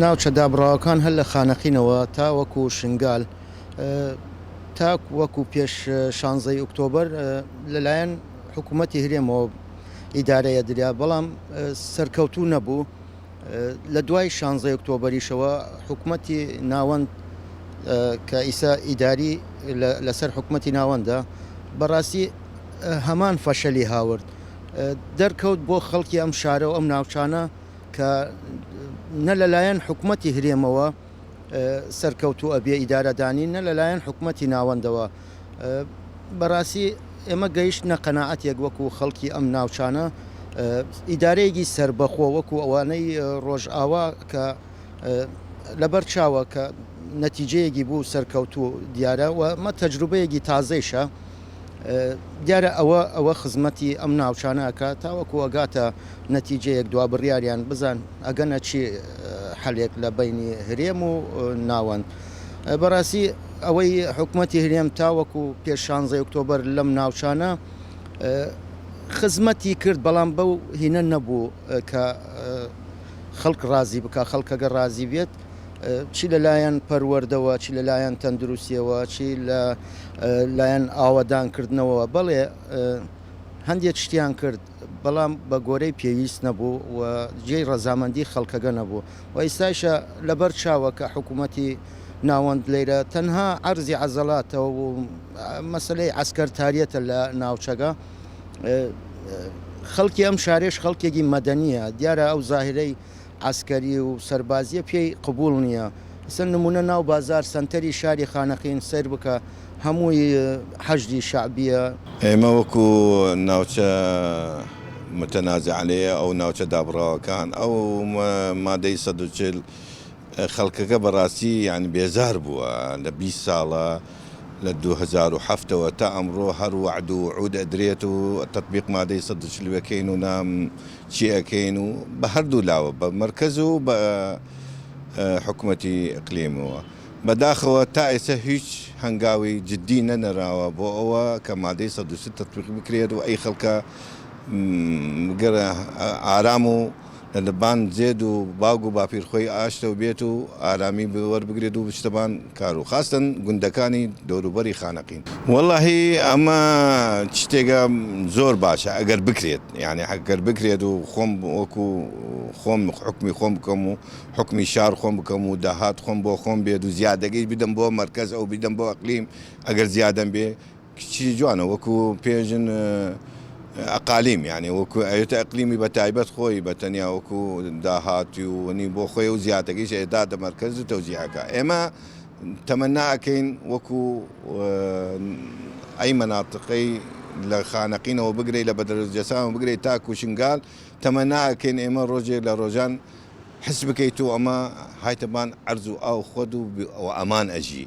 ناوچە دابڕاوەکان هەر لە خانەقینەوە تا وەکو شنگال تا وەکو پێش شانزەی ئوکتۆبەر لەلایەن حکوومەتی هرێمەوە ئیدارەیە دریا بەڵام سەرکەوتوو نەبوو لە دوای شانزەی ئۆکتۆبەریشەوە حکوومەتی ناوەند کە ئیسا ئیداری لەسەر حکوومەتی ناوەندە بەڕاستی هەمان فەشەلی هاورد دەرکەوت بۆ خەڵکی ئەم شارە و ئەم ناوچانە کە نە لەلایەن حکوومەتتی هرێمەوە سەرکەوتوو ئەبێ ئیدارەدانی نە لەلایەن حکوومەتتی ناوەندەوە بەڕاستی ئێمە گەیشت نە قەنەعەتێک وەکو خەڵکی ئەم ناوچانە ئیدارەیەکی سربەخۆ وەکو ئەوانەی ڕۆژئاوا کە لەبەر چاوە کە نەتیجەیەکی بوو سەرکەوتوو دیارە و مە تەجروبەیەکی تازەیشە دیارە ئەوە ئەوە خزمەتی ئەم ناوچانە ئەکات تاوەکو ئەگاتە نەتیجەیەک دوا بڕیاریان بزان ئەگەنە چی حەلێک لە بینی هەرێم و ناوەند بەڕاستی ئەوەی حکوومەتی هەرێم تاوەکو پێ شانزە ئۆکتۆبەر لەم ناوچانە خزمەتی کرد بەڵام بەو هینە نەبوو کە خەڵک ڕازی بکە خەڵکەگە ڕازی بێت چی لە لایەن پەروەردەوە، چی لە لایەن تەندروستیەوە، چی لە لایەن ئاوەدانکردنەوە، بەڵێ هەندێک شتیان کرد، بەڵام بە گۆرەی پێویست نەبوو و جێی ڕەزامەندی خەڵکەگە نەبوو و ئیستایشە لەبەر چاوە کە حکوومەتی ناوەند لەیرە تەنها عەرزی عەزەلاتە و مەسەلەی عەسکەرتاریەتە لە ناوچەگە. خەڵکی ئەم شارەیش خەڵکێگی مەدەنیە، دیارە ئەو زاهرەی عەسکەری و سەربازیە پێی قبوڵ نیە ئەسڵەن نمونە ناو بازار سەنتەری شاری خانەقین سەیر بکە هەمووی حەشدی شەعبیە. ئێمە وەکو ناوچە متنازع علیە ئەو ناوچە دابڕاوەکان ئەو مادەی سەد و چل خەڵکەکە بەڕاستی یانی بێزار بووە لە بیست ساڵە لە دوو هەزار و حەفت ەوە تا ئەمڕۆ هەر وەعد و وعود ئەدرێت و تەتبیق مادەی سەد و چل وەکەین و نام چی ئەکەین و بە هەردوو لاوە بە مەرکەز و بە حکومەتی ئیقلیمەوە بەداخەوە تا ئێستا هیچ هەنگاوی جدی نەنراوە بۆ ئەوە کە مادەی سەد و سی تەتبیق بکرێت و ئەی خەڵکە گەرە ئارام و لە بان زێد و باوگ و باپیر خۆی ئاشتەو بێت و ئارامی وەربگرێت و شتەبان کارو خاستن گوندەکانی دەوروبەری خانەقین. وەڵاهی ئەمە شتێکە زۆر باشە ئەگەر بکرێت یانی ئەگەر بکرێت و خۆم وەکو خۆم حوکمی خۆم بکەم و حوکمی شار خۆم بکەم و داهات خۆم بۆ خۆم بێت و زیادەکەی بدەم بۆ مەرکەز ئەو بیدەم بۆ ئەقلیم ئەگەر زیادەم بێ کچی جوانە وەکو پێژن ئەقالیم یانێ وەکو ئەوێتە ئەقلیمی بە تایبەت خۆی بە تەنیا وەکو داهاتی و وەنی بۆ خۆی و زیاتەکەیش ئێدا دە مەرکەز و تەوزیعەکە ئێمە تەمەنا ئەکەین وەکو ئەی مەناتقەی لە خانەقینەوە بگرەی لە بەدەرەجەسان بگرەی تا کوشنگال تەمەنا ئەکەین ئێمە ڕۆژێک لە ڕۆژان حس بکەیت و ئەمە هایتەبان ئەرز و ئاو خۆد و ئەمان ئەژی